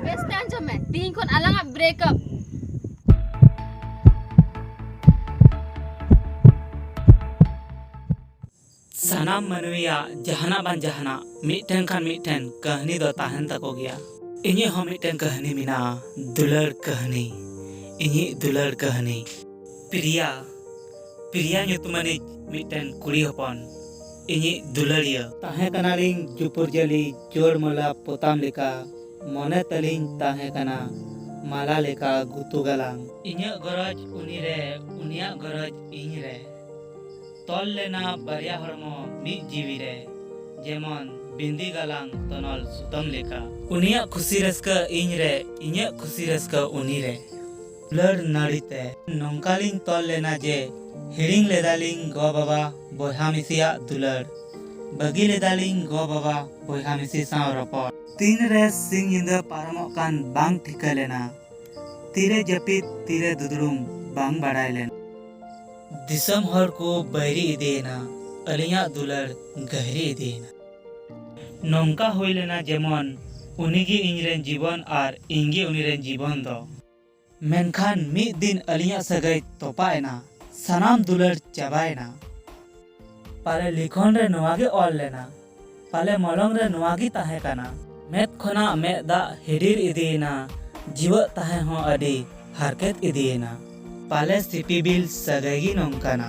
ᱵᱮᱥ ᱯᱮ ᱟᱸᱡᱚᱢ ᱢᱮ ᱛᱤᱦᱤᱧ ᱠᱷᱚᱱ ᱟᱞᱟᱝᱟᱜ ᱵᱨᱮᱠᱟᱯ ᱥᱟᱱᱟᱢ ᱢᱟᱹᱱᱢᱤᱭᱟᱜ ᱡᱟᱦᱟᱱᱟᱜ ᱵᱟᱝ ᱡᱟᱦᱟᱱᱟᱜ ᱢᱤᱫᱴᱮᱱ ᱠᱷᱟᱱ ᱢᱤᱫᱴᱮᱱ ᱠᱟᱹᱦᱱᱤ ᱫᱚ ᱛᱟᱦᱮᱱ ᱛᱟᱠᱚ ᱜᱮᱭᱟ ᱤᱧᱟᱹᱜ ᱦᱚᱸ ᱢᱤᱫᱴᱮᱱ ᱠᱟᱹᱦᱱᱤ ᱢᱮᱱᱟᱜᱼᱟ ᱫᱩᱞᱟᱹᱲ ᱠᱟᱹᱦᱱᱤ ᱤᱧᱤᱡ ᱫᱩᱞᱟᱹᱲ ᱠᱟᱹᱦᱱᱤ ᱯᱨᱤᱭᱟ ᱯᱨᱤᱭᱟ ᱧᱩᱛᱩᱢᱟᱱᱤᱡ ᱢᱤᱫᱴᱮᱱ ᱠᱩᱲᱤ ᱦᱚᱯᱚᱱ ᱤᱧᱤᱡ ᱫᱩᱞᱟᱹᱲᱤᱭᱟᱹ᱾ ᱛᱟᱦᱮᱸ ᱠᱟᱱᱟᱞᱤᱧ ᱡᱩᱯᱩᱨᱡᱟᱹᱞᱤ ᱡᱳᱲ ᱢᱟᱹᱞᱟ ᱯᱚᱛᱟᱢ ᱞᱮᱠᱟ᱾ ᱢᱚᱱᱮ ᱛᱟᱹᱞᱤᱧ ᱛᱟᱦᱮᱸ ᱠᱟᱱᱟ ᱢᱟᱞᱟ ᱞᱮᱠᱟ ᱜᱩᱛᱩ ᱜᱟᱞᱟᱝ᱾ ᱤᱧᱟᱹᱜ ᱜᱚᱨᱚᱡᱽ ᱩᱱᱤ ᱨᱮ ᱩᱱᱤᱭᱟᱜ ᱜᱚᱨᱚᱡᱽ ᱤᱧ ᱨᱮ᱾ ᱛᱚᱞ ᱞᱮᱱᱟ ᱵᱟᱨᱭᱟ ᱦᱚᱲᱢᱚ ᱢᱤᱫ ᱡᱤᱣᱤ ᱨᱮ᱾ ᱡᱮᱢᱚᱱ ᱵᱤᱸᱫᱤ ᱜᱟᱞᱟᱝ ᱛᱚᱱᱚᱞ ᱥᱩᱛᱟᱹᱢ ᱞᱮᱠᱟ᱾ ᱩᱱᱤᱭᱟᱜ ᱠᱷᱩᱥᱤ ᱨᱟᱹᱥᱠᱟᱹ ᱤᱧ ᱨᱮ ᱤᱧᱟᱹᱜ ᱠᱷᱩᱥᱤ ᱨᱟᱹᱥᱠᱟᱹ ᱩᱱᱤ ᱨᱮ᱾ ᱞᱟᱹᱲ ᱱᱟᱹᱲᱤ ᱛᱮ ᱱᱚᱝᱠᱟ ᱞᱤᱧ ᱛᱚᱞ ᱞᱮᱱᱟ ᱡᱮ ᱦᱤᱲᱤᱧ ᱞᱮᱫᱟᱞᱤᱧ ᱜᱚ ᱵᱟᱵᱟ ᱵᱚᱭᱦᱟ ᱢᱤᱥᱤᱭᱟᱜ ᱫᱩᱞᱟᱹᱲ ᱵᱟᱹᱜᱤ ᱞᱮᱫᱟᱞᱤᱧ ᱜᱚ ᱵᱟᱵᱟ ᱵᱚᱭᱦᱟ ᱢᱤᱥᱤ ᱥᱟᱶ ᱨᱚᱯᱚᱲ᱾ ᱛᱤᱱ ᱨᱮ ᱥᱤᱧ ᱧᱤᱫᱟᱹ ᱯᱟᱨᱚᱢᱚᱜ ᱠᱟᱱ ᱵᱟᱝ ᱴᱷᱤᱠᱟᱹ ᱞᱮᱱᱟ᱾ ᱛᱤᱨᱮ ᱡᱟᱹᱯᱤᱫ ᱛᱤᱨᱮ ᱫᱩᱫᱽᱲᱩᱢ ᱵᱟᱝ ᱵᱟᱰᱟᱭ ᱞᱮᱱᱟ᱾ ᱫᱤᱥᱚᱢ ᱦᱚᱲ ᱠᱚ ᱵᱟᱹᱭᱨᱤ ᱤᱫᱤᱭᱮᱱᱟ᱾ ᱟᱹᱞᱤᱧᱟᱜ ᱫᱩᱞᱟᱹᱲ ᱜᱟᱹᱦᱤᱨᱤ ᱤᱫᱤᱭᱮᱱᱟ᱾ ᱱᱚᱝᱠᱟ ᱦᱩᱭ ᱞᱮᱱᱟ ᱡᱮᱢᱚᱱ ᱩᱱᱤ ᱜᱮ ᱤᱧ ᱨᱮᱱ ᱡᱤᱵᱚᱱ ᱟᱨ ᱤᱧ ᱜᱮ ᱩᱱᱤ ᱨᱮᱱ ᱡᱤᱵᱚᱱ ᱫᱚ᱾ ᱢᱮᱱᱠᱷᱟᱱ ᱢᱤᱫ ᱫᱤᱱ ᱟᱹᱞᱤᱧᱟᱜ ᱥᱟᱹᱜᱟᱹᱭ ᱛᱚᱯᱟᱜ ᱮᱱᱟ᱾ ᱥᱟᱱᱟᱢ ᱫᱩᱞᱟᱹᱲ ᱪᱟᱵᱟ ᱮᱱᱟ᱾ ᱯᱟᱞᱮ ᱞᱤᱠᱷᱚᱱ ᱨᱮ ᱱᱚᱶᱟ ᱜᱮ ᱚᱞ ᱞᱮᱱᱟ᱾ ᱯᱟᱞᱮ ᱢᱚᱞᱚᱝ ᱨᱮ ᱱᱚᱶᱟ ᱜᱮ ᱛᱟᱦᱮᱸ ᱠᱟᱱᱟ᱾ ᱢᱮᱫ ᱠᱷᱚᱱᱟᱜ ᱢᱮᱫ ᱫᱟᱜ ᱦᱤᱰᱤᱨ ᱤᱫᱤ ᱮᱱᱟ᱾ ᱡᱤᱣᱟᱹᱜ ᱛᱟᱦᱮᱸ ᱦᱚᱸ ᱟᱹᱰᱤ ᱦᱟᱨᱠᱮᱛ ᱤᱫᱤ ᱮᱱᱟ᱾ ᱯᱟᱞᱮ ᱥᱤᱯᱤᱵᱤᱞ ᱥᱟᱹᱜᱟᱹᱭ ᱜᱮ ᱱᱚᱝᱠᱟᱱᱟ᱾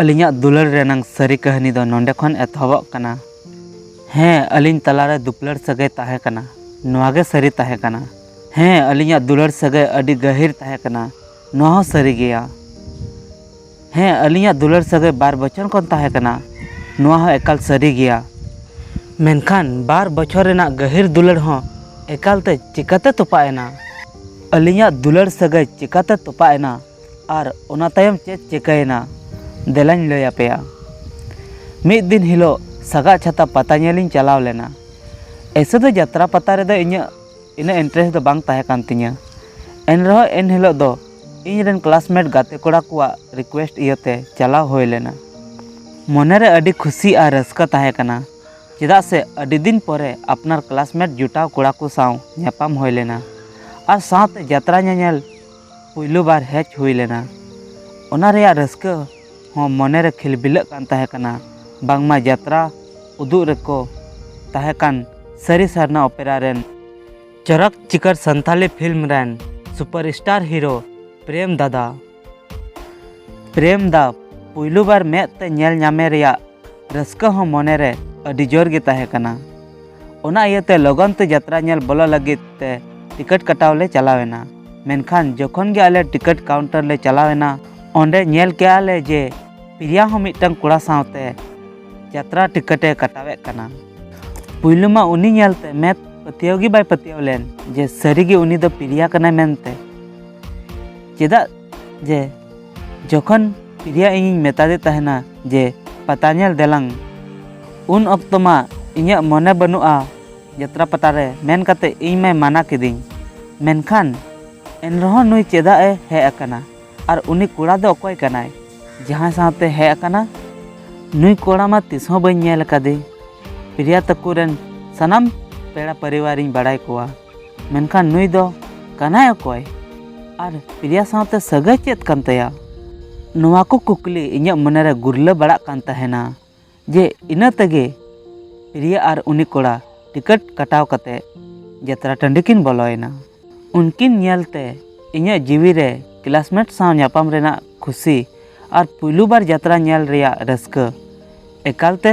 ᱟᱹᱞᱤᱧᱟᱜ ᱫᱩᱞᱟᱹᱲ ᱨᱮᱱᱟᱝ ᱥᱟᱹᱨᱤ ᱠᱟᱹᱦᱱᱤ ᱫᱚ ᱱᱚᱸᱰᱮ ᱠᱷᱚᱱ ᱮᱛᱚᱦᱚᱵᱚᱜ ᱠᱟᱱᱟ᱾ ᱦᱮᱸ, ᱟᱹᱞᱤᱧ ᱛᱟᱞᱟ ᱨᱮ ᱫᱩᱯᱞᱟᱹᱲ ᱥᱟᱹᱜᱟᱹᱭ ᱛᱟᱦᱮᱸ ᱠᱟᱱᱟ᱾ ᱱᱚᱶᱟ ᱜᱮ ᱥᱟᱹᱨᱤ ᱛᱟᱦᱮᱸ ᱠᱟᱱᱟ᱾ ᱦᱮᱸ, ᱟᱹᱞᱤᱧᱟᱜ ᱫᱩᱞᱟᱹᱲ ᱥᱟᱹᱜᱟᱹᱭ ᱟᱹᱰᱤ ᱜᱟᱹᱦᱤᱨ ᱛᱟᱦᱮᱸ ᱠᱟᱱᱟ᱾ ᱱᱚᱶᱟ ᱦᱚᱸ ᱥᱟᱹᱨᱤ ᱜᱮᱭᱟ᱾ ᱦᱮᱸ, ᱟᱹᱞᱤᱧᱟᱜ ᱫᱩᱞᱟᱹᱲ ᱥᱟᱹᱜᱟᱹᱭ ᱵᱟᱨ ᱵᱚᱪᱷᱚᱨ ᱠᱷᱚᱱ ᱛᱟᱦᱮᱸ ᱠᱟᱱᱟ᱾ ᱱᱚᱶᱟ ᱦᱚᱸ ᱮᱠᱟᱞ ᱥᱟᱹᱨᱤ ᱜᱮᱭᱟ᱾ ᱢᱮᱱᱠᱷᱟᱱ ᱵᱟᱨ ᱵᱚᱪᱷᱚᱨ ᱨᱮᱱᱟᱜ ᱜᱟᱹᱦᱤᱨ ᱫᱩᱞᱟᱹᱲ ᱦᱚᱸ ᱮᱠᱟᱞ ᱛᱮ ᱪᱮᱠᱟᱛᱮ ᱛᱚᱯᱟᱜ ᱮᱱᱟ? ᱟᱹᱞᱤᱧᱟᱜ ᱫᱩᱞᱟᱹᱲ ᱥᱟᱹᱜᱟᱹᱭ ᱪᱮᱠᱟᱛᱮ ᱛᱚᱯᱟᱜ ᱮᱱᱟ? ᱟᱨ ᱚᱱᱟ ᱛᱟᱭᱚᱢ ᱪᱮᱫ ᱪᱤᱠᱟᱹᱭᱮᱱᱟ ᱫᱮᱞᱟᱧ ᱞᱟᱹᱭ ᱟᱯᱮᱭᱟ ᱢᱤᱫ ᱫᱤᱱ ᱦᱤᱞᱳᱜ ᱥᱟᱜᱟᱫ ᱪᱷᱟᱛᱟ ᱯᱟᱛᱟ ᱧᱮᱞ ᱤᱧ ᱪᱟᱞᱟᱣ ᱞᱮᱱᱟ ᱮᱭᱥᱮ ᱫᱚ ᱡᱟᱛᱨᱟ ᱯᱟᱛᱟ ᱨᱮᱫᱚ ᱤᱧᱟᱹᱜ ᱤᱱᱟᱹᱜ ᱤᱱᱴᱟᱨᱮᱥᱴ ᱫᱚ ᱵᱟᱝ ᱛᱟᱦᱮᱸ ᱠᱟᱱ ᱛᱤᱧᱟᱹ ᱮᱱ ᱨᱮᱦᱚᱸ ᱮᱱ ᱦᱤᱞᱳᱜ ᱫᱚ ᱤᱧ ᱨᱮᱱ ᱠᱞᱟᱥᱢᱮᱴ ᱜᱟᱛᱮ ᱠᱚᱲᱟ ᱠᱚᱣᱟᱜ ᱨᱤᱠᱩᱭᱮᱥᱴ ᱤᱭᱟᱹᱛᱮ ᱪᱟᱞᱟᱣ ᱦᱩᱭ ᱞᱮᱱᱟ ᱢᱚᱱᱮ ᱨᱮ ᱟᱹᱰᱤ ᱠᱷᱩᱥᱤ ᱟᱨ ᱨᱟᱹᱥᱠᱟᱹ ᱛᱟᱦᱮᱸ ᱠᱟᱱᱟ ᱪᱮᱫᱟᱜ ᱥᱮ ᱟᱹᱰᱤ ᱫᱤᱱ ᱯᱚᱨᱮ ᱟᱯᱱᱟᱨ ᱠᱞᱟᱥᱢᱮᱴ ᱡᱚᱴᱟᱣ ᱠᱚᱲᱟ ᱠᱚ ᱥᱟᱶ ᱧᱟᱯᱟᱢ ᱦᱩᱭ ᱞᱮᱱᱟ ᱟᱨ ᱥᱟᱶᱛᱮ ᱡᱟᱛᱨᱟ ᱧᱮᱧᱮᱞ ᱯᱩᱭᱞᱩ ᱵᱟᱨ ᱦᱮᱡ ᱦᱩᱭ ᱞᱮᱱᱟ ᱚᱱᱟ ᱨᱮᱭᱟᱜ ᱨᱟᱹᱥᱠᱟᱹ ᱦᱚᱸ ᱢᱚᱱᱮ ᱨᱮ ᱠᱷᱤᱞᱵᱤᱞᱟᱹᱜ ᱠᱟᱱ ᱛᱟᱦᱮᱸ ᱠᱟᱱᱟ ᱵᱟᱝᱢᱟ ᱡᱟᱛᱨᱟ ᱩᱫᱩᱜ ᱨᱮᱠᱚ ᱛᱟᱦᱮᱸ ᱠᱟᱱ ᱥᱟᱹᱨᱤ ᱥᱟᱨᱱᱟ ᱚᱯᱮᱨᱟ ᱨᱮᱱ ᱪᱚᱨᱚᱠ ᱪᱤᱠᱟᱹᱨ ᱥᱟᱱᱛᱟᱞᱤ ᱯᱷᱤᱞᱢ ᱨᱮᱱ ᱥᱩᱯᱟᱨ ᱥᱴᱟᱨ ᱦᱤᱨᱳ ᱯᱨᱮᱢ ᱫᱟᱫᱟ ᱯᱨᱮᱢ ᱫᱟ ᱯᱩᱭᱞᱩ ᱵᱟᱨ ᱢᱮᱫ ᱛᱮ ᱧᱮᱞ ᱧᱟᱢᱮ ᱨᱮᱭᱟᱜ ᱨᱟᱹᱥᱠᱟᱹ ᱦᱚᱸ ᱢᱚᱱᱮ ᱨᱮ ᱟᱹᱰᱤ ᱡᱳᱨ ᱜᱮ ᱛᱟᱦᱮᱸ ᱠᱟᱱᱟ ᱚᱱᱟ ᱤᱭᱟᱹᱛᱮ ᱞᱚᱜᱚᱱ ᱛᱮ ᱡᱟᱛᱨᱟ ᱧᱮᱞ ᱵᱚᱞᱚ ᱞᱟᱹᱜᱤᱫ ᱛᱮ ᱴᱤᱠᱤᱴ ᱠᱟᱴᱟᱣ ᱞᱮ ᱪᱟᱞᱟᱣ ᱮᱱᱟ ᱢᱮᱱᱠᱷᱟᱱ ᱡᱚᱠᱷᱚᱱ ᱜᱮ ᱟᱞᱮ ᱴᱤᱠᱤᱴ ᱠᱟᱣᱩᱱᱴᱟᱨ ᱞᱮ ᱪᱟᱞᱟᱣ ᱮᱱᱟ ᱚᱸᱰᱮ ᱧᱮᱞ ᱠᱮᱜᱼᱟ ᱞᱮ ᱡᱮ ᱯᱨᱤᱭᱟ ᱦᱚᱸ ᱢᱤᱫᱴᱟᱝ ᱠᱚᱲᱟ ᱥᱟᱶᱛᱮ ᱡᱟᱛᱨᱟ ᱴᱤᱠᱤᱴ ᱮ ᱠᱟᱴᱟᱣᱮᱫ ᱠᱟᱱᱟ ᱯᱩᱭᱞᱩ ᱢᱟ ᱩᱱᱤ ᱧᱮᱞᱛᱮ ᱢᱮᱫ ᱯᱟᱹᱛᱭᱟᱹᱣ ᱜᱮ ᱵᱟᱭ ᱯᱟᱹᱛᱭᱟᱹᱣ ᱞᱮᱱ ᱡᱮ ᱥᱟᱹᱨᱤᱜᱮ ᱩᱱᱤ ᱫᱚ ᱯᱨᱤᱭᱟ ᱠᱟᱱᱟᱭ ᱢᱮᱱᱛᱮ ᱪᱮᱫᱟᱜ ᱡᱮ ᱡᱚᱠᱷᱚᱱ ᱯᱨᱤᱭᱟ ᱤᱧᱤᱧ ᱢᱮᱛᱟᱫᱮ ᱛᱟᱦᱮᱱᱟ ᱡᱮ ᱯᱟᱛᱟ ᱧᱮᱞ ᱫᱮᱞᱟᱝ ᱩᱱ ᱚᱠᱛᱚ ᱢᱟ ᱤᱧᱟᱹᱜ ᱢᱚᱱᱮ ᱵᱟᱹᱱᱩᱜᱼᱟ ᱡᱟᱛᱨᱟ ᱯᱟᱛᱟ ᱨᱮ ᱢᱮᱱ ᱠᱟᱛᱮ ᱤᱧ ᱢᱟᱭ ᱢᱟᱱᱟ ᱠᱤᱫᱤᱧ᱾ ᱢᱮᱱᱠᱷᱟᱱ ᱮᱱᱨᱮᱦᱚᱸ ᱱᱩᱭ ᱪᱮᱫᱟᱜ ᱮ ᱦᱮᱡ ᱟᱠᱟᱱᱟ ᱟᱨ ᱩᱱᱤ ᱠᱚᱲᱟ ᱫᱚ ᱚᱠᱚᱭ ᱠᱟᱱᱟᱭ ᱡᱟᱦᱟᱸᱭ ᱥᱟᱶᱛᱮ ᱦᱮᱡ ᱟᱠᱟᱱᱟ? ᱱᱩᱭ ᱠᱚᱲᱟ ᱢᱟ ᱛᱤᱥ ᱦᱚᱸ ᱵᱟᱹᱧ ᱧᱮᱞ ᱟᱠᱟᱫᱮ᱾ ᱯᱨᱤᱭᱟ ᱛᱟᱠᱚ ᱨᱮᱱ ᱥᱟᱱᱟᱢ ᱯᱮᱲᱟ ᱯᱚᱨᱤᱣᱟᱨ ᱤᱧ ᱵᱟᱲᱟᱭ ᱠᱚᱣᱟ᱾ ᱢᱮᱱᱠᱷᱟᱱ ᱱᱩᱭ ᱫᱚ ᱠᱟᱱᱟᱭ ᱚᱠᱚᱭ ᱟᱨ ᱯᱨᱤᱭᱟ ᱥᱟᱶᱛᱮ ᱥᱟᱹᱜᱟᱹᱭ ᱪᱮᱫ ᱠᱟᱱ ᱛᱟᱭᱟ ᱱᱚᱣᱟ ᱠᱚ ᱠᱩᱠᱞᱤ ᱤᱧᱟᱹᱜ ᱢᱚᱱᱮᱨᱮ ᱜᱩᱨᱞᱟᱹ ᱵᱟᱲᱟᱜ ᱠᱟᱱ ᱛᱟᱦᱮᱱᱟ ᱡᱮ ᱤᱱᱟᱹ ᱛᱮᱜᱮ ᱯᱨᱤᱭᱟ ᱟᱨ ᱩᱱᱤ ᱠᱚᱲᱟ ᱴᱤᱠᱤᱴ ᱠᱟᱴᱟᱣ ᱠᱟᱛᱮ ᱡᱟᱛᱨᱟ ᱴᱟᱺᱰᱤ ᱠᱤᱱ ᱵᱚᱞᱚᱭᱮᱱᱟ ᱩᱱᱠᱤᱱ ᱧᱮᱞᱛᱮ ᱤᱧᱟᱹᱜ ᱡᱤᱣᱤ ᱨᱮ ᱠᱞᱟᱥᱢᱮᱴ ᱥᱟᱶ ᱧᱟᱯᱟᱢ ᱨᱮᱱᱟᱜ ᱠᱷᱩᱥᱤ ᱟᱨ ᱯᱩᱭᱞᱩ ᱵᱟᱨ ᱡᱟᱛᱨᱟ ᱧᱮᱞ ᱨᱮᱭᱟᱜ ᱨᱟᱹᱥᱠᱟᱹ ᱮᱠᱟᱞᱛᱮ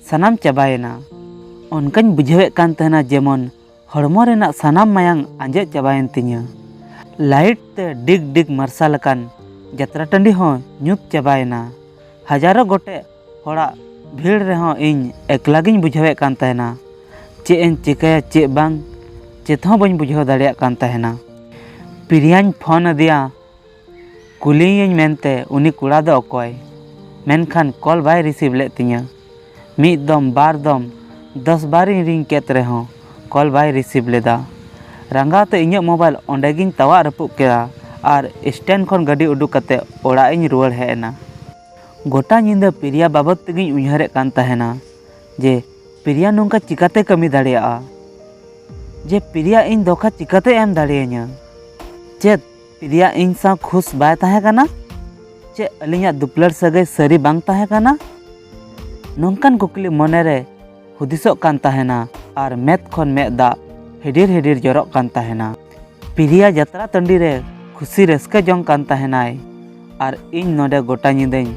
ᱥᱟᱱᱟᱢ ᱪᱟᱵᱟᱭᱮᱱᱟ ᱚᱱᱠᱟᱧ ᱵᱩᱡᱷᱟᱹᱣᱮᱫ ᱠᱟᱱ ᱛᱟᱦᱮᱱᱟ ᱡᱮᱢᱚᱱ ᱦᱚᱲᱢᱚ ᱨᱮᱱᱟᱜ ᱥᱟᱱᱟᱢ ᱢᱟᱭᱟᱝ ᱟᱸᱡᱮᱫ ᱪᱟᱵᱟᱭᱮᱱ ᱛᱤᱧᱟᱹ᱾ ᱞᱟᱭᱤᱴ ᱛᱮ ᱰᱤᱜᱽ ᱰᱤᱜᱽ ᱢᱟᱨᱥᱟᱞ ᱟᱠᱟᱱ ᱡᱟᱛᱨᱟ ᱴᱟᱺᱰᱤ ᱦᱚᱸ ᱧᱩᱛ ᱪᱟᱵᱟᱭᱮᱱᱟ᱾ ᱦᱟᱡᱟᱨᱚ ᱜᱚᱴᱮᱡ ᱦᱚᱲᱟᱜ ᱵᱷᱤᱲ ᱨᱮᱦᱚᱸ ᱤᱧ ᱮᱠᱞᱟ ᱜᱮᱧ ᱵᱩᱡᱷᱟᱹᱣᱮᱫ ᱠᱟᱱ ᱛᱟᱦᱮᱸᱱᱟ᱾ ᱪᱮᱫ ᱮᱧ ᱪᱮᱠᱟᱭᱟ ᱪᱮᱫ ᱵᱟᱝ, ᱪᱮᱫ ᱦᱚᱸ ᱵᱟᱹᱧ ᱵᱩᱡᱷᱟᱹᱣ ᱫᱟᱲᱮᱭᱟᱜ ᱠᱟᱱ ᱛᱟᱦᱮᱸᱱᱟ᱾ ᱯᱨᱤᱭᱟᱧ ᱯᱷᱚᱱ ᱟᱫᱮᱭᱟ᱾ ᱠᱩᱞᱤᱭᱮᱭᱟᱹᱧ ᱢᱮᱱᱛᱮ ᱩᱱᱤ ᱠᱚᱲᱟ ᱫᱚ ᱚᱠᱚᱭ? ᱢᱮᱱᱠᱷᱟᱱ ᱠᱚᱞ ᱵᱟᱭ ᱨᱤᱥᱤᱵᱷ ᱞᱮᱫ ᱛᱤᱧᱟᱹ᱾ ᱢᱤᱫ ᱫᱚᱢ ᱵᱟᱨ ᱫᱚᱢ ᱫᱚᱥ ᱵᱟᱨᱤᱧ ᱨᱤᱝ ᱠᱮᱫ ᱨᱮᱦᱚᱸ ᱠᱚᱞ ᱵᱟᱭ ᱨᱤᱥᱤᱵᱷ ᱞᱮᱫᱟ᱾ ᱨᱟᱸᱜᱟᱣ ᱛᱮ ᱤᱧᱟᱹᱜ ᱢᱳᱵᱟᱭᱤᱞ ᱚᱸᱰᱮ ᱜᱤᱧ ᱛᱟᱣᱟᱜ ᱨᱟᱹᱯᱩᱫ ᱠᱮᱫᱟ ᱟᱨ ᱥᱴᱮᱱᱰ ᱠᱷᱚᱱ ᱜᱟᱹᱰᱤ ᱩᱰᱩᱠ ᱠᱟᱛᱮ ᱚᱲᱟᱜ ᱤᱧ ᱨᱩᱣᱟᱹᱲ ᱦᱮᱡ ᱮᱱᱟ᱾ ᱜᱚᱴᱟ ᱧᱤᱫᱟᱹ ᱯᱨᱤᱭᱟ ᱵᱟᱵᱚᱛ ᱛᱮᱜᱤᱧ ᱩᱭᱦᱟᱹᱨᱮᱫ ᱠᱟᱱ ᱛᱟᱦᱮᱸᱱᱟ ᱡᱮ ᱯᱨᱤᱭᱟ ᱱᱚᱝᱠᱟ ᱪᱤᱠᱟᱹᱛᱮ ᱠᱟᱹᱢᱤ ᱫᱟᱲᱮᱭᱟᱜᱼᱟ? ᱡᱮ ᱯᱨᱤᱭᱟ ᱤᱧ ᱫᱷᱚᱠᱟ ᱪᱤᱠᱟᱹᱛᱮ ᱮᱢ ᱫᱟᱲᱮᱭᱟᱹᱧᱟᱹ? ᱪᱮᱫ ᱯᱨᱤᱭᱟ ᱤᱧ ᱥᱟᱶ ᱠᱷᱩᱥ ᱵᱟᱭ ᱛᱟᱦᱮᱸ ᱠᱟᱱᱟ ᱪᱮ ᱟᱹᱞᱤᱧᱟᱜ ᱫᱩᱯᱞᱟᱹᱲ ᱥᱟᱹᱜᱟᱹᱭ ᱥᱟᱹᱨᱤ ᱵᱟᱝ ᱛᱟᱦᱮᱸ ᱠᱟᱱᱟ ᱱᱚᱝᱠᱟᱱ ᱠᱩᱠᱞᱤ ᱢᱚᱱᱮᱨᱮ ᱦᱩᱫᱤᱥᱚᱜ ᱠᱟᱱ ᱛᱟᱦᱮᱱᱟ ᱟᱨ ᱢᱮᱫ ᱠᱷᱚᱱ ᱢᱮᱫ ᱫᱟᱜ ᱦᱤᱰᱤᱨ ᱦᱤᱰᱤᱨ ᱡᱚᱨᱚᱜ ᱠᱟᱱ ᱛᱟᱦᱮᱱᱟ ᱯᱨᱤᱭᱟ ᱡᱟᱛᱨᱟ ᱴᱟᱺᱰᱤ ᱨᱮ ᱠᱷᱩᱥᱤ ᱨᱟᱹᱥᱠᱟᱹ ᱡᱚᱝ ᱠᱟᱱ ᱛᱟᱦᱮᱱᱟᱭ ᱟᱨ ᱤᱧ ᱱᱚᱰᱮ ᱜᱚᱴᱟ ᱧᱤᱫᱟᱹᱧ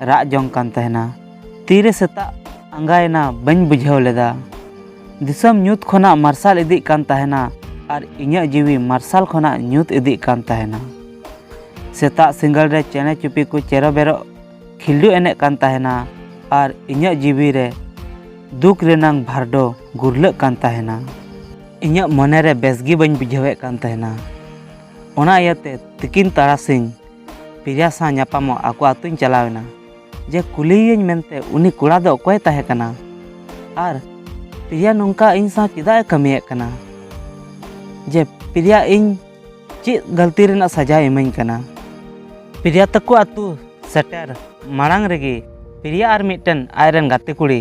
ᱨᱟᱜ ᱡᱚᱝ ᱠᱟᱱ ᱛᱟᱦᱮᱱᱟ ᱛᱤᱨᱮ ᱥᱮᱛᱟᱜ ᱟᱸᱜᱟᱭᱮᱱᱟ ᱵᱟᱹᱧ ᱵᱩᱡᱷᱟᱹᱣ ᱞᱮᱫᱟ ᱫᱤᱥᱚᱢ ᱧᱩᱛ ᱠᱷᱚᱱᱟᱜ ᱢᱟᱨᱥᱟᱞ ᱤᱫᱤᱜ ᱠᱟᱱ ᱛᱟᱦᱮᱱᱟ ᱟᱨ ᱤᱧᱟᱹᱜ ᱡᱤᱣᱤ ᱢᱟᱨᱥᱟᱞ ᱠᱷᱚᱱᱟᱜ ᱧᱩᱛ ᱤᱫᱤᱜ ᱠᱟᱱ ᱛᱟᱦᱮᱱᱟ ᱥᱮᱛᱟᱜ ᱥᱤᱸᱜᱟᱹᱲ ᱨᱮ ᱪᱮᱬᱮ ᱪᱩᱯᱤ ᱠᱚ ᱪᱮᱨᱚ ᱵᱮᱨᱚᱜ ᱠᱷᱤᱞᱰᱩ ᱮᱱᱮᱡ ᱠᱟᱱ ᱛᱟᱦᱮᱱᱟ ᱟᱨ ᱤᱧᱟᱹᱜ ᱡᱤᱣᱤ ᱨᱮ ᱫᱩᱠ ᱨᱮᱱᱟᱝ ᱵᱷᱟᱨᱰᱚ ᱜᱩᱨᱞᱟᱹᱜ ᱠᱟᱱ ᱛᱟᱦᱮᱱᱟ ᱤᱧᱟᱹᱜ ᱢᱚᱱᱮ ᱨᱮ ᱵᱮᱥ ᱜᱮ ᱵᱟᱹᱧ ᱵᱩᱡᱷᱟᱹᱣᱮᱫ ᱠᱟᱱ ᱛᱟᱦᱮᱱᱟ ᱚᱱᱟ ᱤᱭᱟᱹᱛᱮ ᱛᱤᱠᱤᱱ ᱛᱟᱨᱟᱥᱤᱧ ᱯᱨᱤᱭᱟ ᱥᱟᱶ ᱧᱟᱯᱟᱢᱚᱜ ᱟᱠᱚ ᱟᱹᱛᱩᱧ ᱪᱟᱞᱟᱣᱮᱱᱟ ᱡᱮ ᱠᱩᱞᱤᱭᱮᱭᱟᱹᱧ ᱢᱮᱱᱛᱮ ᱩᱱᱤ ᱠᱚᱲᱟ ᱫᱚ ᱚᱠᱚᱭ ᱛᱟᱦᱮᱸ ᱠᱟᱱᱟ ᱟᱨ ᱯᱨᱤᱭᱟ ᱱᱚᱝᱠᱟ ᱤᱧ ᱥᱟᱶ ᱪᱮᱫᱟᱜ ᱮ ᱠᱟᱹᱢᱤᱭᱮᱫ ᱠᱟᱱᱟ ᱡᱮ ᱯᱨᱤᱭᱟ ᱤᱧ ᱪᱮᱫ ᱜᱟᱹᱞᱛᱤ ᱨᱮᱱᱟᱜ ᱥᱟᱡᱟᱭ ᱤᱢᱟᱹᱧ ᱠᱟᱱᱟ ᱯᱨᱤᱭᱟ ᱛᱟᱠᱚ ᱟᱹᱛᱩ ᱥᱮᱴᱮᱨ ᱢᱟᱲᱟᱝ ᱨᱮᱜᱮ ᱯᱨᱤᱭᱟ ᱟᱨ ᱢᱤᱫᱴᱮᱱ ᱟᱡ ᱨᱮᱱ ᱜᱟᱛᱮ ᱠᱩᱲᱤ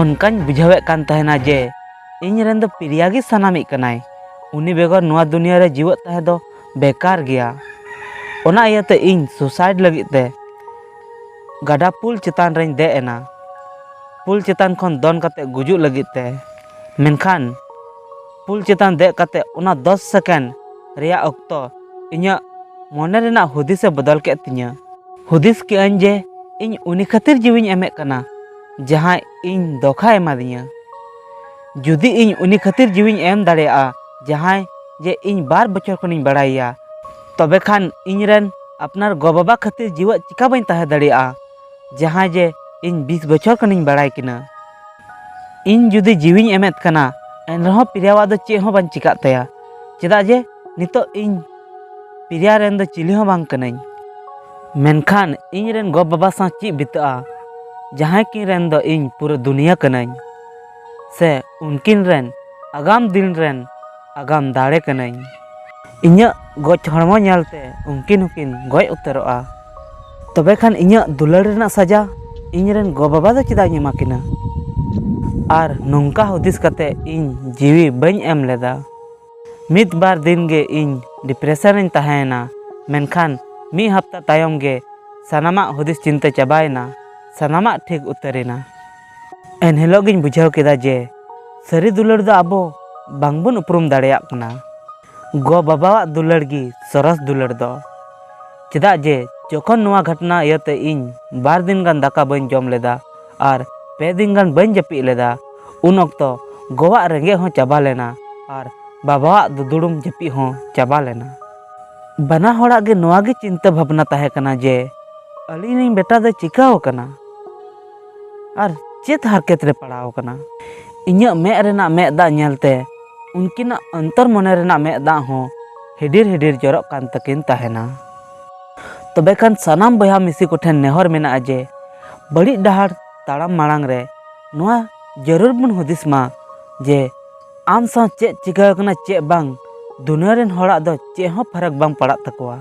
ᱚᱱᱠᱟᱧ ᱵᱩᱡᱷᱟᱹᱣᱮᱫ ᱠᱟᱱ ᱛᱟᱦᱮᱱᱟ ᱡᱮ ᱤᱧ ᱨᱮᱱ ᱫᱚ ᱯᱨᱤᱭᱟ ᱜᱮ ᱥᱟᱱᱟᱢᱤᱡ ᱠᱟᱱᱟᱭ ᱩᱱᱤ ᱵᱮᱜᱚᱨ ᱱᱚᱣᱟ ᱫᱩᱱᱤᱭᱟᱹ ᱨᱮ ᱡᱤᱣᱮᱫ ᱛᱟᱦᱮᱸ ᱫᱚ ᱵᱮᱠᱟᱨ ᱜᱮᱭᱟ ᱚᱱᱟ ᱤᱭᱟᱹᱛᱮ ᱤᱧ ᱥᱩᱥᱟᱭᱤᱰ ᱞᱟᱹᱜᱤᱫ ᱛᱮ ᱜᱟᱰᱟ ᱯᱩᱞ ᱪᱮᱛᱟᱱ ᱨᱮᱧ ᱫᱮᱡ ᱮᱱᱟ ᱯᱩᱞ ᱪᱮᱛᱟᱱ ᱠᱷᱚᱱ ᱫᱚᱱ ᱠᱟᱛᱮ ᱜᱩᱡᱩᱜ ᱞᱟᱹᱜᱤᱫ ᱛᱮ ᱢᱮᱱᱠᱷᱟᱱ ᱯᱩᱞ ᱪᱮᱛᱟᱱ ᱫᱮᱡ ᱠᱟᱛᱮ ᱚᱱᱟ ᱫᱚᱥ ᱥᱮᱠᱮᱱᱰ ᱨᱮᱭᱟᱜ ᱚᱠᱛᱚ ᱤᱧᱟᱹᱜ ᱢᱚᱱᱮ ᱨᱮᱱᱟᱜ ᱦᱩᱫᱤᱥ ᱮ ᱵᱚᱫᱚᱞ ᱠᱮᱫ ᱛᱤᱧᱟᱹ ᱦᱩᱫᱤᱥ ᱠᱮᱫ ᱟᱹᱧ ᱡᱮ ᱤᱧ ᱩᱱᱤ ᱠᱷᱟᱹᱛᱤᱨ ᱡᱤᱣᱤᱧ ᱮᱢᱮᱫ ᱠᱟᱱᱟ ᱡᱟᱦᱟᱸᱭ ᱤᱧ ᱫᱚᱠᱷᱟ ᱮᱢᱟᱫᱤᱧᱟ ᱡᱩᱫᱤ ᱤᱧ ᱩᱱᱤ ᱠᱷᱟᱹᱛᱤᱨ ᱡᱤᱣᱤᱧ ᱮᱢ ᱫᱟᱲᱮᱭᱟᱜᱼᱟ ᱡᱟᱦᱟᱸᱭ ᱡᱮ ᱤᱧ ᱵᱟᱨ ᱵᱚᱪᱷᱚᱨ ᱠᱷᱚᱱᱤᱧ ᱵᱟᱲᱟᱭᱮᱭᱟ ᱛᱚᱵᱮ ᱠᱷᱟᱱ ᱤᱧ ᱨᱮᱱ ᱟᱯᱱᱟᱨ ᱜᱚ ᱵᱟᱵᱟ ᱠᱷᱟᱹᱛᱤᱨ ᱡᱤᱣᱮᱫ ᱪᱤᱠᱟ ᱵᱟᱹᱧ ᱛᱟᱦᱮᱸ ᱫᱟᱲᱮᱭᱟᱜᱼᱟ ᱡᱟᱦᱟᱸᱭ ᱡᱮ ᱤᱧ ᱵᱤᱥ ᱵᱚᱪᱷᱚᱨ ᱠᱷᱚᱱᱤᱧ ᱵᱟᱲᱟᱭ ᱠᱤᱱᱟ ᱤᱧ ᱡᱩᱫᱤ ᱡᱤᱣᱤᱧ ᱮᱢᱮᱫ ᱠᱟᱱᱟ ᱮᱱᱨᱮᱦᱚᱸ ᱯᱨᱤᱭᱟᱣᱟᱜ ᱫᱚ ᱪᱮᱫ ᱦᱚᱸ ᱵᱟᱝ ᱪᱤᱠᱟᱹᱜ ᱛᱟᱭᱟ ᱪᱮᱫᱟᱜ ᱡᱮ ᱱᱤᱛᱚᱜ ᱤᱧ ᱯᱨᱤᱭᱟ ᱨᱮᱱ ᱫᱚ ᱪᱤᱞᱤ ᱦᱚᱸ ᱵᱟᱝ ᱠᱟᱹᱱᱟᱹᱧ ᱢᱮᱱᱠᱷᱟᱱ ᱤᱧ ᱨᱮᱱ ᱜᱚ ᱵᱟᱵᱟ ᱥᱟᱶ ᱪᱮᱫ ᱵᱤᱛᱟᱹᱜᱼᱟ ᱡᱟᱦᱟᱸᱭ ᱠᱤᱱ ᱨᱮᱱ ᱫᱚ ᱤᱧ ᱯᱩᱨᱟᱹ ᱫᱩᱱᱤᱭᱟᱹ ᱠᱟᱹᱱᱟᱹᱧ ᱥᱮ ᱩᱱᱠᱤᱱ ᱨᱮᱱ ᱟᱜᱟᱢ ᱫᱤᱱ ᱨᱮᱱ ᱟᱜᱟᱢ ᱫᱟᱲᱮ ᱠᱟᱹᱱᱟᱹᱧ ᱤᱧᱟᱹᱜ ᱜᱚᱡ ᱦᱚᱲᱢᱚ ᱧᱮᱞᱛᱮ ᱩᱱᱠᱤᱱ ᱦᱚᱸᱠᱤᱱ ᱜᱚᱡ ᱩᱛᱟᱹᱨᱚᱜᱼᱟ ᱛᱚᱵᱮ ᱠᱷᱟᱱ ᱤᱧᱟᱹᱜ ᱫᱩᱞᱟᱹᱲ ᱨᱮᱱᱟᱜ ᱥᱟᱡᱟ ᱤᱧ ᱨᱮᱱ ᱜᱚ ᱵᱟᱵᱟ ᱫᱚ ᱪᱮᱫᱟᱜ ᱤᱧ ᱮᱢᱟ ᱠᱤᱱᱟ ᱟᱨ ᱱᱚᱝᱠᱟ ᱦᱩᱫᱤᱥ ᱠᱟᱛᱮ ᱤᱧ ᱡᱤᱣᱤ ᱵᱟᱹᱧ ᱮᱢ ᱞᱮᱫᱟ ᱢᱤᱫ ᱵᱟᱨ ᱫᱤᱱ ᱜᱮ ᱤᱧ ᱰᱤᱯᱨᱮᱥᱚᱱ ᱨᱮᱧ ᱛᱟᱦᱮᱸᱭᱮᱱᱟ ᱢᱮᱱᱠᱷᱟᱱ ᱢᱤᱫ ᱦᱟᱯᱛᱟ ᱛᱟᱭᱚᱢ ᱜᱮ ᱥᱟᱱᱟᱢᱟᱜ ᱦᱩᱫᱤᱥ ᱪᱤᱱᱛᱟᱹ ᱪᱟᱵᱟᱭᱮᱱᱟ ᱥᱟᱱᱟᱢᱟᱜ ᱴᱷᱤᱠ ᱩᱛᱟᱹᱨᱮᱱᱟ ᱮᱱᱦᱤᱞᱳᱜ ᱜᱤᱧ ᱵᱩᱡᱷᱟᱹᱣ ᱠᱮᱫᱟ ᱡᱮ ᱥᱟᱹᱨᱤ ᱫᱩᱞᱟᱹᱲ ᱫᱚ ᱟᱵᱚ ᱵᱟᱝᱵᱚᱱ ᱩᱯᱨᱩᱢ ᱫᱟᱲᱮᱭᱟᱜ ᱠᱟᱱᱟ ᱜᱚ ᱵᱟᱵᱟᱣᱟᱜ ᱫᱩᱞᱟᱹᱲ ᱜᱮ ᱥᱚᱨᱚᱥ ᱫᱩᱞᱟᱹᱲ ᱫᱚ ᱪᱮᱫᱟᱜ ᱡᱮ ᱡᱚᱠᱷᱚᱱ ᱱᱚᱣᱟ ᱜᱷᱚᱴᱱᱟ ᱤᱭᱟᱹᱛᱮ ᱤᱧ ᱵᱟᱨ ᱫᱤᱱ ᱜᱟᱱ ᱫᱟᱠᱟ ᱵᱟᱹᱧ ᱡᱚᱢ ᱞᱮᱫᱟ ᱟᱨ ᱯᱮ ᱫᱤᱱ ᱜᱟᱱ ᱵᱟᱹᱧ ᱡᱟᱹᱯᱤᱫ ᱞᱮᱫᱟ ᱩᱱ ᱚᱠᱛᱚ ᱜᱚᱣᱟᱜ ᱨᱮᱸᱜᱮᱡ ᱦᱚᱸ ᱪᱟᱵᱟ ᱞᱮᱱᱟ ᱟᱨ ᱵᱟᱵᱟᱣᱟᱜ ᱫᱩᱫᱩᱲᱩᱢ ᱡᱟᱹᱯᱤᱫ ᱦᱚᱸ ᱪᱟᱵᱟ ᱞᱮᱱᱟ ᱵᱟᱱᱟ ᱦᱚᱲᱟᱜ ᱜᱮ ᱱᱚᱣᱟ ᱜᱮ ᱪᱤᱱᱛᱟᱹ ᱵᱷᱟᱵᱽᱱᱟ ᱛᱟᱦᱮᱸ ᱠᱟᱱᱟ ᱡᱮ ᱟᱹᱞᱤᱧ ᱨᱮᱱ ᱵᱮᱴᱟ ᱫᱚᱭ ᱪᱤᱠᱟᱹᱣ ᱟᱠᱟᱱᱟ ᱟᱨ ᱪᱮᱫ ᱦᱟᱨᱠᱮᱛ ᱨᱮ ᱯᱟᱲᱟᱣ ᱟᱠᱟᱱᱟ ᱤᱧᱟᱹᱜ ᱢᱮᱫ ᱨᱮᱱᱟᱜ ᱢᱮᱫ ᱫᱟᱜ ᱧᱮᱞᱛᱮ ᱩᱱᱠᱤᱱᱟᱜ ᱚᱱᱛᱚᱨ ᱢᱚᱱᱮ ᱨᱮᱱᱟᱜ ᱢᱮᱫ ᱫᱟᱜ ᱦᱚᱸ ᱦᱤᱰᱤᱨ ᱦᱤᱰᱤᱨ ᱡᱚᱨᱚᱜ ᱠᱟᱱ ᱛᱟᱹᱠᱤᱱ ᱛᱟᱦᱮᱱᱟ ᱛᱚᱵᱮ ᱠᱷᱟᱱ ᱥᱟᱱᱟᱢ ᱵᱚᱭᱦᱟ ᱢᱤᱥᱤ ᱠᱚᱴᱷᱮᱱ ᱱᱮᱦᱚᱨ ᱢᱮᱱᱟᱜᱼᱟ ᱡᱮ ᱵᱟᱹᱲᱤᱡ ᱰᱟᱦᱟᱨ ᱛᱟᱲᱟᱢ ᱢᱟᱲᱟᱝ ᱨᱮ ᱱᱚᱣᱟ ᱡᱟᱹᱨᱩᱲ ᱵᱚᱱ ᱦᱩᱫᱤᱥ ᱢᱟ ᱡᱮ ᱟᱢ ᱥᱟᱶ ᱪᱮᱫ ᱪᱤᱠᱟᱹ ᱟᱠᱟᱱᱟ ᱪᱮᱫ ᱵᱟᱝ ᱫᱩᱱᱤᱭᱟᱹ ᱨᱮᱱ ᱦᱚᱲᱟᱜ ᱫᱚ ᱪᱮᱫ ᱦᱚᱸ ᱯᱷᱟᱨᱟᱠ ᱵᱟᱝ ᱯᱟᱲᱟᱜ ᱛᱟᱠᱚᱣᱟ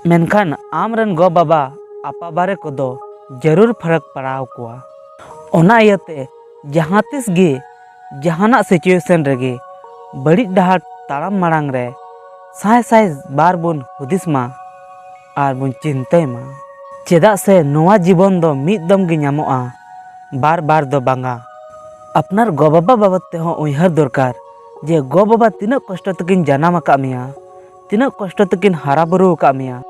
ᱢᱮᱱᱠᱷᱟᱱ ᱟᱢ ᱨᱮᱱ ᱜᱚ ᱵᱟᱵᱟ ᱟᱯᱟ ᱵᱟᱨᱮ ᱠᱚᱫᱚ ᱡᱟᱹᱨᱩᱲ ᱯᱷᱟᱨᱟᱠ ᱯᱟᱲᱟᱣ ᱠᱚᱣᱟ ᱚᱱᱟ ᱤᱭᱟᱹᱛᱮ ᱡᱟᱦᱟᱸ ᱛᱤᱥ ᱜᱮ ᱡᱟᱦᱟᱱᱟᱜ ᱥᱤᱪᱩᱭᱮᱥᱚᱱ ᱨᱮᱜᱮ ᱵᱟᱹᱲᱤᱡ ᱰᱟᱦᱟᱨ ᱛᱟᱲᱟᱢ ᱢᱟᱲᱟᱝ ᱨᱮ ᱥᱟᱭ ᱥᱟᱭ ᱵᱟᱨ ᱵᱚᱱ ᱦᱩᱫᱤᱥ ᱢᱟ ᱟᱨ ᱵᱚᱱ ᱪᱤᱱᱛᱟᱹᱭ ᱢᱟ ᱪᱮᱫᱟᱜ ᱥᱮ ᱱᱚᱣᱟ ᱡᱤᱵᱚᱱ ᱫᱚ ᱢᱤᱫ ᱫᱚᱢ ᱜᱮ ᱧᱟᱢᱚᱜᱼᱟ ᱵᱟᱨ ᱵᱟᱨ ᱫᱚ ᱵᱟᱝᱟ ᱟᱯᱱᱟᱨ ᱜᱚ ᱵᱟᱵᱟ ᱵᱟᱵᱚᱫ ᱛᱮᱦᱚᱸ ᱩᱭᱦᱟᱹᱨ ᱫᱚᱨᱠᱟᱨ ᱡᱮ ᱜᱚ ᱵᱟᱵᱟ ᱛᱤᱱᱟᱹᱜ ᱠᱚᱥᱴᱚ ᱛᱮᱠᱤᱱ ᱡᱟᱱᱟᱢ ᱟᱠᱟᱫ ᱢᱮᱭᱟ ᱛᱤᱱᱟᱹᱜ ᱠᱚᱥᱴᱚ ᱛᱮᱠᱤᱱ ᱦᱟᱨᱟ ᱵᱩᱨᱩ ᱟᱠᱟᱫ ᱢᱮᱭᱟ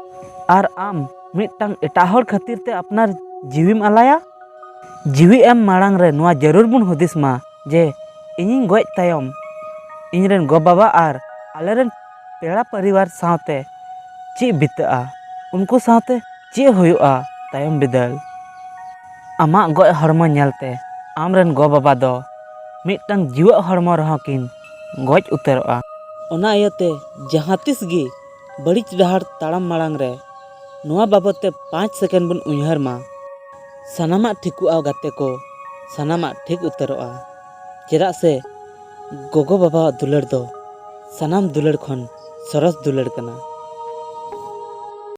ᱟᱨ ᱟᱢ ᱢᱤᱫᱴᱟᱝ ᱮᱴᱟᱜ ᱦᱚᱲ ᱠᱷᱟᱹᱛᱤᱨ ᱛᱮ ᱟᱯᱱᱟᱨ ᱡᱤᱣᱤᱢ ᱟᱞᱟᱭᱟ ᱡᱤᱣᱤ ᱮᱢ ᱢᱟᱲᱟᱝ ᱨᱮ ᱱᱚᱣᱟ ᱡᱟᱹᱨᱩᱲ ᱵᱚᱱ ᱦᱩᱫᱤᱥ ᱢᱟ ᱡᱮ ᱤᱧᱤᱧ ᱜᱚᱡ ᱛᱟᱭᱚᱢ ᱤᱧᱨᱮᱱ ᱜᱚ ᱵᱟᱵᱟ ᱟᱨ ᱟᱞᱮᱨᱮᱱ ᱯᱮᱲᱟ ᱯᱚᱨᱤᱵᱟᱨ ᱥᱟᱶᱛᱮ ᱪᱮᱫ ᱵᱤᱛᱟᱹᱜᱼᱟ ᱩᱱᱠᱩ ᱥᱟᱶᱛᱮ ᱪᱮᱫ ᱦᱩᱭᱩᱜᱼᱟ ᱛᱟᱭᱚᱢ ᱵᱤᱫᱟᱹᱞ ᱟᱢᱟᱜ ᱜᱚᱡ ᱦᱚᱲᱢᱚ ᱧᱮᱞᱛᱮ ᱟᱢ ᱨᱮᱱ ᱜᱚ ᱵᱟᱵᱟ ᱫᱚ ᱢᱤᱫᱴᱟᱝ ᱡᱤᱣᱮᱫ ᱦᱚᱲᱢᱚ ᱨᱮᱦᱚᱸ ᱠᱤᱱ ᱜᱚᱡ ᱩᱛᱟᱹᱨᱚᱜᱼᱟ ᱚᱱᱟ ᱤᱭᱟᱹᱛᱮ ᱡᱟᱦᱟᱸ ᱛᱤᱥ ᱜᱮ ᱵᱟᱹᱲᱤᱡ ᱰᱟᱦᱟᱨ ᱛᱟᱲᱟᱢ ᱢᱟᱲᱟᱝ ᱨᱮ ᱱᱚᱣᱟ ᱵᱟᱵᱚᱛ ᱛᱮ ᱯᱟᱸᱪ ᱥᱮᱠᱮᱱᱰ ᱵᱚᱱ ᱩᱭᱦᱟᱹᱨ ᱢᱟ ᱥᱟᱱᱟᱢᱟᱜ ᱴᱷᱤᱠᱚᱜᱼᱟ ᱜᱟᱛᱮ ᱠᱚ ᱥᱟᱱᱟᱢᱟᱜ ᱴᱷᱤᱠ ᱩᱛᱟᱹᱨᱚᱜᱼᱟ ᱪᱮᱫᱟᱜ ᱥᱮ ᱜᱚᱜᱚ ᱵᱟᱵᱟᱣᱟᱜ ᱫᱩᱞᱟᱹᱲ ᱫᱚ ᱥᱟᱱᱟᱢ ᱫᱩᱞᱟᱹᱲ ᱠᱷᱚᱱ ᱥᱚᱨᱚᱥ ᱫᱩᱞᱟᱹᱲ ᱠᱟᱱᱟ᱾